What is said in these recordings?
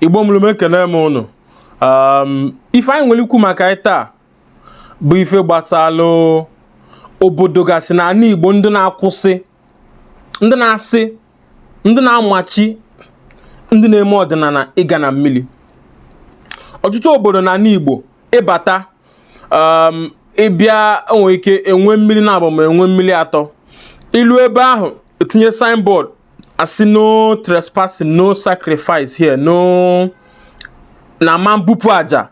igbo mụrụ m ekene m ụnụ ife anyị nwere ikwu maka ya taa bụ ife gbasalụ obodo gasị na ana igbo ndị na-akwụsị ndị na-asị ndị na-amachi ndị na-eme ọdịnana ịga na mmili ọtụtụ obodo na ana igbo ịbata ịbịa enwere ike enwe mmili naabọ ma enwe mmili atọ ilu ebe ahụ etinye signboard asị no trespassing no sacrifice here no na ama mbupụ aja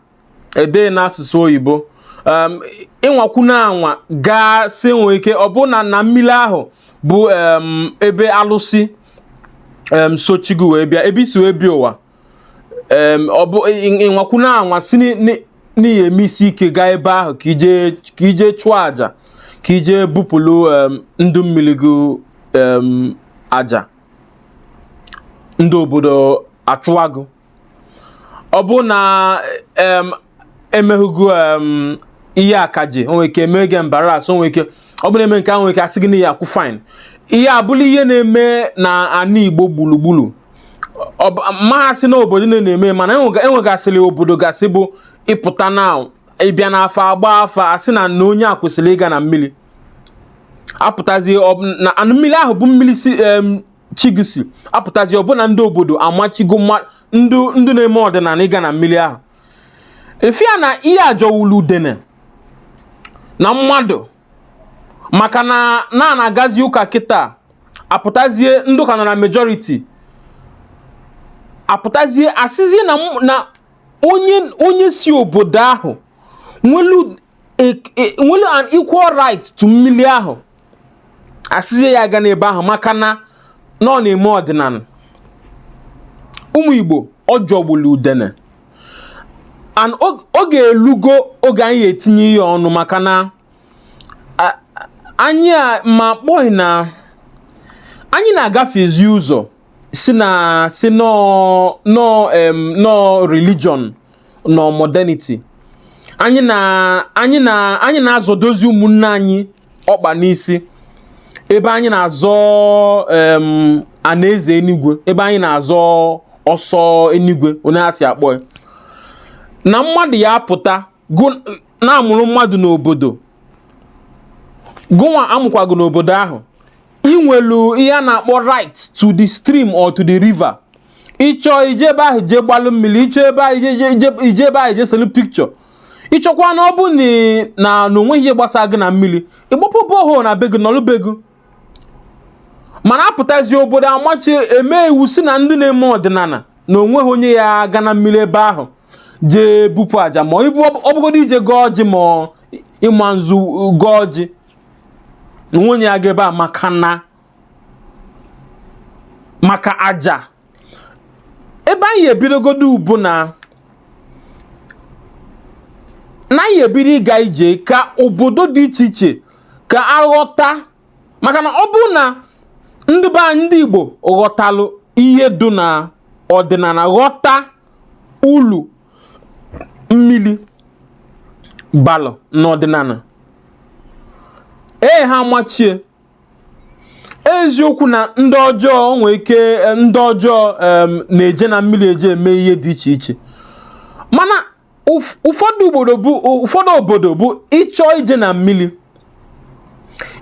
ede n'asụsụ oyibo um, ịnwakwuna anwa gaa sị nwee ike ọ bụ na na mmili ahụ bụ um, ebe alụsị um, so chi gụ wee bịa ebe i si wee bịa ụwa ọ bụ ịnwakwuna anwa sị na ị ya-eme isi ike gaa ebe ahụ ka i je chụọ aja ka i je bupụlụ ndụ mmili gụ aja ndị obodo achụwa gụ ọ bụ na emehu gụ em, ihe akaje o nwere ike eme gị embarrass o nwere ike ọ bụ na eme nke ahụ nwere ike asị gị na ị ya-akwụ fine ihe abụla ihe na-eme na ana igbo gbulugbulu ọ bụ- m ma-asị na obodo niile na-eme mana enwega- enwegasịrị obodo gasị bụ ịpụta na ịbịa n'afa agba afa asị na na onye a kwesịrị ịga na mmili apụtazie ọ bụ na na mmili ahụ bụ mmili si em, chi gị si apụtazie ọ bụ na ndị obodo amachigo mma- ndụ ndụ na-eme ọdịnana ịga na mmili ahụ ị fụ ya na ihe a jọwulu udene na mmadụ maka na na na-agazi ụka kịta apụtazie ndị ụka nọ na majority apụtazie asịzie na m- na onye onye si obodo ahụ nwelu e- e- nwelu an equal right to mmili ahụ asịzie ya agana ebe ahụ maka na na ọ na-eme ọdịnana ụmụ Igbo ọ jọgbulu udene and oge elugo oge anyị ya-etinye ihe a ọnụ maka na anyị a ma kpọghị na anyị na-agafezi ụzọ sị na sị na ọ na ọ religion na ọ modernity anyị na anyị na anyị na-azọdozi ụmụnne anyị ọkpa n'isi ebe anyị na-azọ anaeze enigwe ebe anyị na-azọ ọsọ enigwe onye a si akpọ ya na mmadụ ya-apụta na a mụrụ mmadụ n'obodo gụnwa a mụkwa gụ n'obodo ahụ i nwelu ihe a na-akpọ right to the stream or to the river ị chọọ ije ebe ahụ je gbalụ mmili ị chọọ ebe ahụ ije ebe ahụ je selu picture ịchọkwa na ọ bụ na na onweghị ihe gbasara gị na mmiri ịgbapụ borehole na be gị nọlụ be gị mana apụtazi obodo amachie mee iwu sị na ndị na-eme ọdịnala na onweghị onye ya-aga na mmiri ebe ahụ jee bupụ aja ma ibu ọ bụgodu ije gọọ ọjị ma ịma nzu gọọ ọjị onye ya-aga ebe a maka na maka aja ebe anyị ebidogodu bụ na na anyị ebido ịga ije ka obodo dị iche iche ka a ghọta maka na ọ bụrụ na ndị be anyị ndị Igbo ghọtalụ ihe dị na ọdịnala ghọta ulu mmiri balụ n'ọdịnala ee ha machie eziokwu na ndị ọjọọ nwee ike eh, ndị ọjọọ na-eje na mmiri eje eme ihe dị iche iche mana ụfọdụ obodo bụ ụfọdụ obodo bụ ịchọ ije na mmiri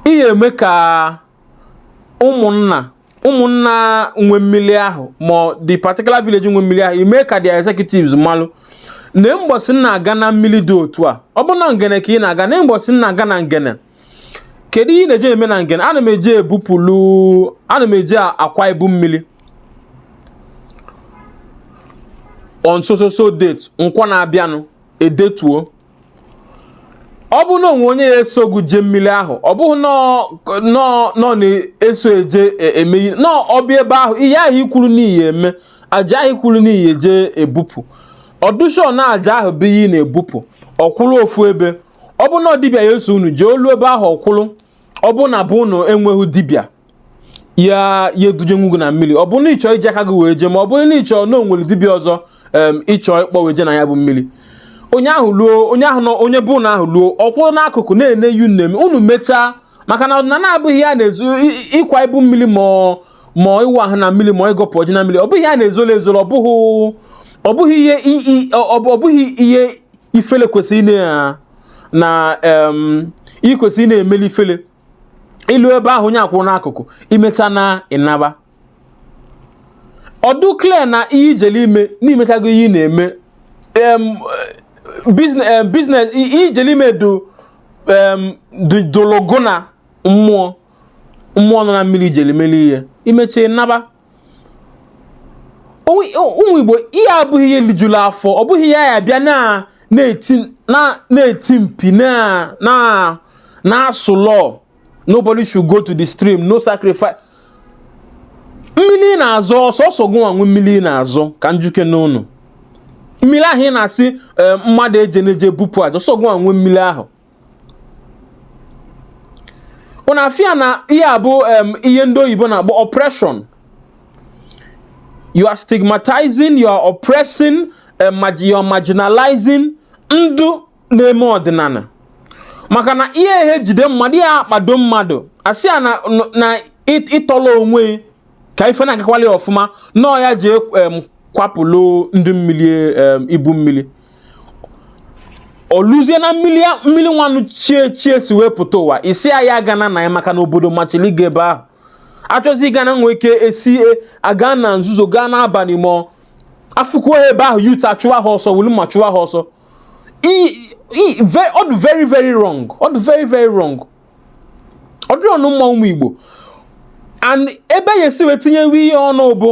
ị ya-eme ka ụmụnna ụmụnna nwe mmiri ahụ ma the particular village nwe mmiri ahụ i mee ka the executives malụ na mgbọsị na-aga na mmiri dị otu a ọ bụ na ngene ka ị na-aga na mgbọsị na-aga na ngene kedu ihe ị na-eje eme na ngene ana m eje ebupụlụ ana m eje akwa ibu mmiri on so so so date nkwa na-abịanụ e detuo ọ bụ na o nwee onye ya-eso gị jee mmiri ahụ ọ bụghị na ọ na-eso eje e, em na ọ bịa ebe ahụ ihe ahụ i kwuru na ị ya-eme aja ahụ i kwuru na ị ya-eje ebupụ ọ dụ sure na aja ahụ bụ ihe ị na-ebupụ ọ kwụrụ ofu ebe ọ bụ na dibịa ya-eso unu jee o luo ebe ahụ ọ kwụrụ ọ bụ na be unu enweghị dibịa ya ya-eduje unu na mmiri ọ bụ na ịchọ iji aka gị wee jee ma ọ bụrụ na ịchọ na onwere dibịa ọzọ ịchọ ịkpọ wee jee na ya bụ mmiri onye ahụ luo onye ahụ nọ onye be unu ahụ luo ọ kwụrụ n'akụkụ na-ene unu em unu mechaa maka na ọdịnala abụghị ihe a na-ezo ịkwa ibu mmiri ma ma ịwa ahụ na mmiri ma ịgọpụ ọjị na mmiri ọ bụghị ihe a na-ezoro ezoro ọ bụghị ihe ọ bụghị ihe ifele kwesịrị ị na na em, ị kwesịrị ị na-emeli ifele i luo ebe ahụ onye a kwụrụ n'akụkụ i mechaa na ị naba ọ dụ clear na ihe i jelụ ime na i mechago ihe ị na-eme em, business em, business i- ihe i jelụ ime do em, do- dụlụ gị na mmụọ mmụọ nọ na mmiri i jelụ meli ihe i mechaa ị naba ụmụ Igbo ihe a abụghị ihe lijuru afọ ọ bụghị ya ya bịa na-eti mpi na-asụ law nobody should go to the stream no sacrifice mmiri ị na-azọ ọ sọsọ gụnwa nwe mmiri ị na-azọ ka m jụkene ụnụ mmiri ahụ ị na-asị eh, mmadụ ejene je bupụ aja ọ sọ gụnwa nwe mmiri ahụ na-afụ ya na ihe a bụ ihe ndị oyibo na-akpọ oppression you are stigmatizing you are oppressing you are marginalizing ndụ na-eme ọdịnala maka na ihe ehe jide mmadụ ị ya-akpado mmadụ asị ya na ị tọla onwe ka ife na-agakwali ọfụma na ọ ya-eje kwapụlụ ndị mmiri ibu mmiri o luzie na mmiri mmiri nwanụ chi e chi e si wee pụta ụwa ị sị ya agana na ya maka na obodo machili ịga ebe ahụ achọzi ịga na nwee ike esi e, aga na nzuzo gaa n'abalị ma afụkwuo ha ebe ahụ youth achụwa ha ọsọ wulu mma chụwa ha ọsọ ọ dị very very wrong ọ dị very very wrong ọ dịrị ụnụ mma ụmụ Igbo and ebe a ya-esi wee tinyewe ya ọnụ bụ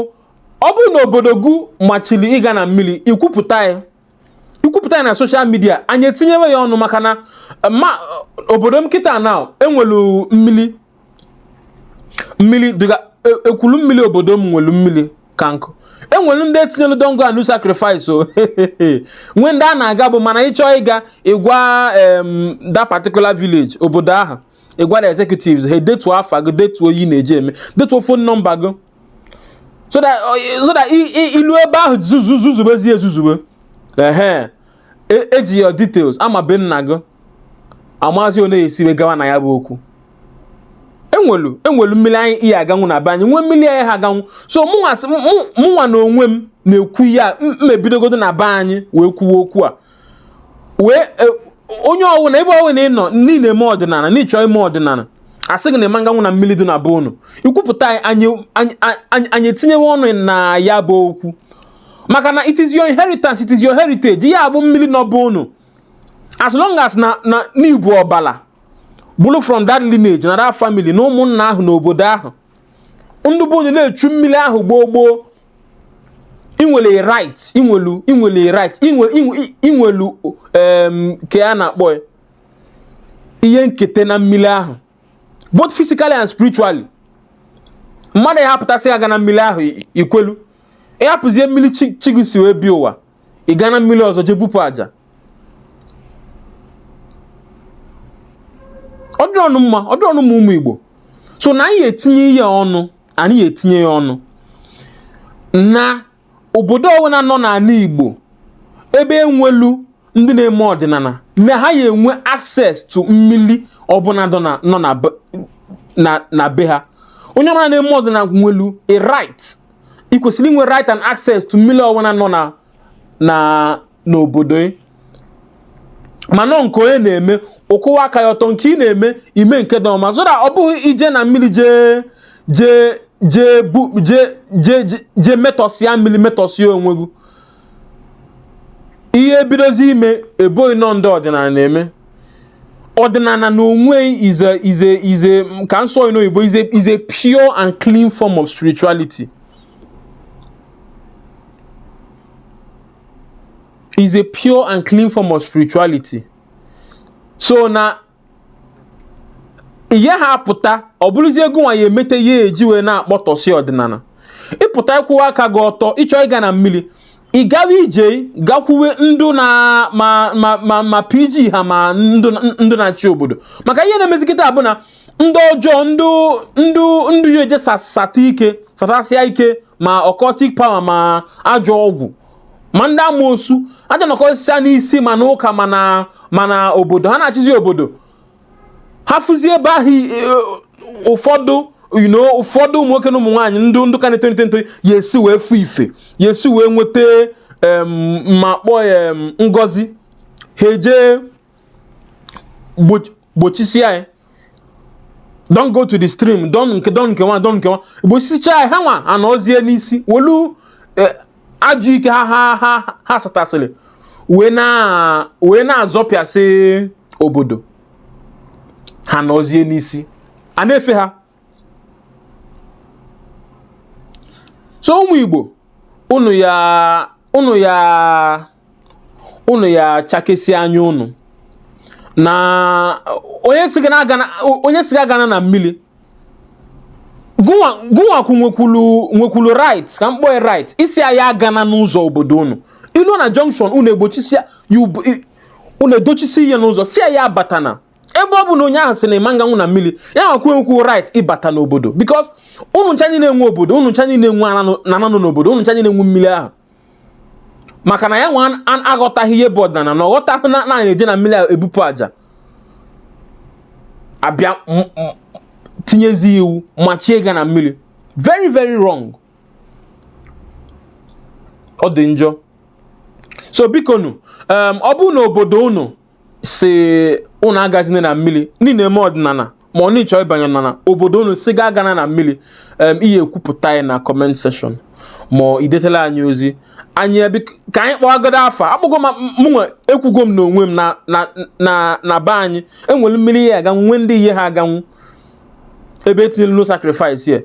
ọ bụrụ na obodo gụ machiri ịga na mmiri i kwupụta ya i kwupụta ya na social media anyị etinyewe ya ọnụ maka na ma obodo m kịta na e nwelu mmiri mmiri dịga e, Ekwulumili obodo m nwelu mmiri ka nkụ e nwere ndị e tinyelu don't go and sacrifice o nwee ndị a na-aga bụ mana ị chọọ ịga ị gwa that particular village obodo ahụ ị gwa the executives ha detuo afa gị detuo ihe ị na-eje eme detuo phone number gị so that uh, i luo ebe ahụ zuzubezie ezuzube ehe e ji e your details ama be nna gị amazi onye e si wee gawa na ya bụ okwu e nwelu e nwelu mmiri anyị ya-aganwu na be anyị nwee mmiri anyị ha aganwu so mụnwa na onwe m na-ekwu ya m ebidogodo na be anyị wee kwuwe okwu a wee e, onye ọwụna ebe ọwụna ị nọ niile eme ọdịnala na ị chọ ime ọdịnala a sị gị na ị ma nganwu na mmiri dị na be unu i kwupụta ya anyị etinyewe ọnụ na ya bụ okwu maka na it is your inheritance it is your heritage ya bụ mmiri nọ be unu as long as na na n'i bu ọbala bụrụ from that lineage na that family na ụmụnna ahụ na obodo ahụ ndị be unu na-echu mmiri ahụ gboo gboo i nwelu right i nwelu i nwelu right i nwelu ke a na-akpọ ya ihe nketa na mmiri ahụ both physically and spiritually mmadụ ya-apụta sị agana mmiri ahụ i kwelu ị hapụzie mmiri chi gị si wee bịa ụwa ị gaa na mmiri ọzọ jee bupụ aja ọ dịrọnụ mma ọ dịrọnụ mma ụmụ Igbo so na anyị etinye ya ọnụ anyị etinye ya ọnụ na obodo ọbụla nọ n'ala Igbo ebe e nwelu ndị na-eme ọdịnala na ha ya enwe access to mmiri ọbụla nọ na be ha onye ọbụla na-eme ọdịnala nwelu a right ị kwesịrị inwe right and access to mmiri ọwụna nọ na na n'obodo ị mana nke onye na-eme ụkwụwa aka ya ọtọ nke ị na-eme ime nke dị ọma so that ọ bụghị ije na mmiri jee jee jee bu jee jee jee metọsịa mmiri metọsịa onwe gị ihe bidozi ime e bo gị na ọ ndị ọdịnala na-eme ọdịnala na onwe is a is a is a ka m sụọ n'oyibo is a is a pure and clean form of spirituality is a pure and clean form of spirituality so na ị yaha apụta ọ bụrụzie gụnwa ya emete ihe e ji wee na-akpọtọsị ọdịnala ị pụta ịkwụwa aka gị ọtọ ị chọọ ịga na mmiri ị gawa i jee gakwuwe ndụ na ma ma ma ma PG ha ma ndụ ndụ na-achị obodo maka ihe na-emezi kịta bụ na ndị ọjọọ ndụ ndụ ndụ ya eje sasata ike satasịa ike ma occultic power ma ajọ ọgwụ ma ndị amoosu aja nọkọsịcha n'isi ma na ụka ma na ma na obodo ha na-achịzi obodo ha fụzie ebe ahụ e, ụfọdụ you know ụfọdụ ụmụ nwoke na ụmụ nwaanyị ndị ndụ ka na-eto eto ya esi wee fụ ife ya esi wee nweta ma kpọọ ya ngozi ha eje gbochisie ya don't go to the stream don't nke don't nke nwa don't nke nwa gbochisicha ya ha nwa anọzie n'isi welu eh, ajọ ike ha ha ha ha satasịrị wee na wee na-azọpịasị obodo ha nọzie n'isi a na-efe ha so ụmụ Igbo unu ya unu ya unu ya chakesịa anya unu na onye sị gị agana na mmiri gụnwakwu nwekwulu nwekwulu right ka m kpọọ right ịsị ya agana n'ụzọ obodo unu i lu na junction unu egbochisia unu edochisi ihe n'ụzọ sị ya abatana ebe ọ bụ na onye ahụ sị na ị ma ganwu na mmiri ya nwekwu right ịbata n'obodo because unu ncha niile nwe obodo unu ncha niile nwe ana nọ n'obodo unu ncha niile nwe mmiri ahụ maka na ya nwa aghọtaghị ihe bụ ọdịnala na ọ ghọtaghị na a na-eje na mmiri ebupụ aja a bịa tinyezi iwu machie ịga na mmiri very very wrong ọ dị njọ so bikonụ um, ọ bụ na obodo unu sị unu agazina na mmiri na ị na-eme ọdịnala ma ọ na ị chọ ịbanye ọdịnala obodo unu sị gị agana na mmiri ị ya-ekwupụta ya na comment section ma i detela anyị ozi anyị ka anyị kpọgodo afa akpọgo mụnwa ekwugo m n'onwe m na be anyị e nwere mmiri ị ya-aganwu nwee ndị ị yaha aganwu ebe e tinyere no sacrifice ya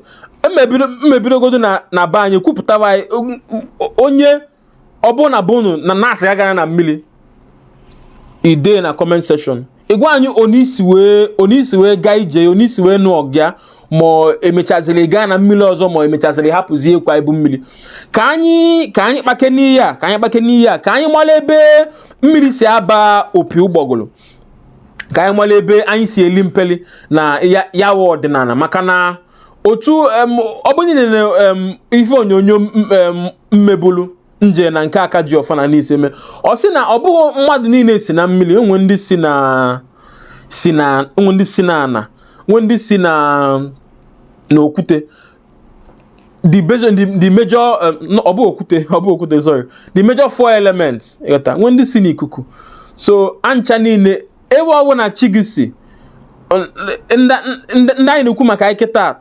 m ebidogodo na be anyị kwupụtaba ya onye ọ bụna be unu na-asị gị agana na mmiri i dee na comment section ị gwa anyị otu i si wee otu i si wee gaa ije otu i si wee nụọ ọgụ a ma e mechaziri gaa na mmiri ọzọ ma e mechaziri hapụzie ịkwa ibu mmiri ka anyị ka anyị kpakene ihe a ka anyị kpakene ihe a ka anyị mara ebe mmiri si aba opi ụgbọgụrụ ka anyị mara ebe anyị si eli mpeli na ya wụ ọdịnala maka na otu ọ bụ onye nere ife onyonyo m mebulu m jee na nke aka ji ọfọ na Nise mee ọ sị na ọ bụghị mmadụ niile si na mmiri o nwe ndị si na si na o nwe ndị si na ana o nwe ndị si na n'okwute the major the, the major um, ọ bụ okwute ọ bụ okwute sorry the major four elements ị ghọta nwee ndị si n'ikuku so ha ncha niile ebe ọ bụna chi gị si ndị anyị na-ekwu maka ya kịta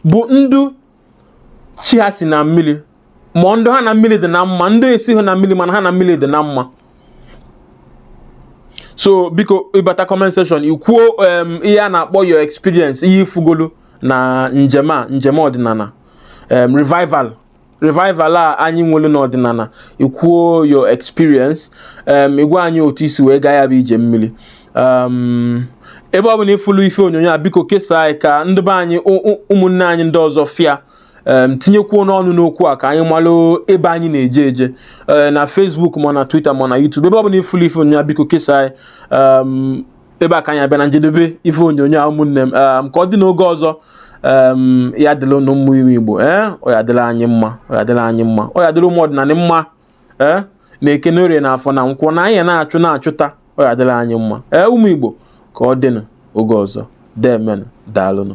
bụ ndụ chi ha si na mmiri ma ndụ ha na mmiri dị na mma ndụ esiha na mmiri mana ha na mmiri dị na mma so biko ị bata comment section i kwuo ihe a na-akpọ your experience ihe ị fụgolu na njem a njem ọdịnala revival revival a anyị nwere n'ọdịnala i kwuo your experience um, ị gwa anyị otu i si wee gaa ya bụ ije mmiri um, ebe ọ bụna ị fụlụ ife onyonyo a biko kesaa ya ka ndị be anyị ụmụnne anyị ndị ọzọ fụ ya um, tinyekwuonụ ọnụ n'okwu a ka anyị malụ ebe anyị na-eje eje uh, na Facebook ma na Twitter ma na YouTube ebe ọ bụna ị fụlụ ife onyonyo a biko kesaa ya ebe a ka anyị ya-abịa na njedebe ife onyonyo a ụmụnne m ehm, ka ọ dị n'oge ọzọ ehm, ya dịla unu mma ụmụ Igbo ee eh, ọ ya dịla anyị mma ọ ya dịla anyị mma ọ ya dịla ụmụ ọdịnala mma ee eh, na eke na orie na afọ na nkwọ na ihe a na-achụ na-achụta ọ ya dịla anyị mma ee eh, ụmụ Igbo ka ọ dịnụ oge ọzọ deemenụ daalụnụ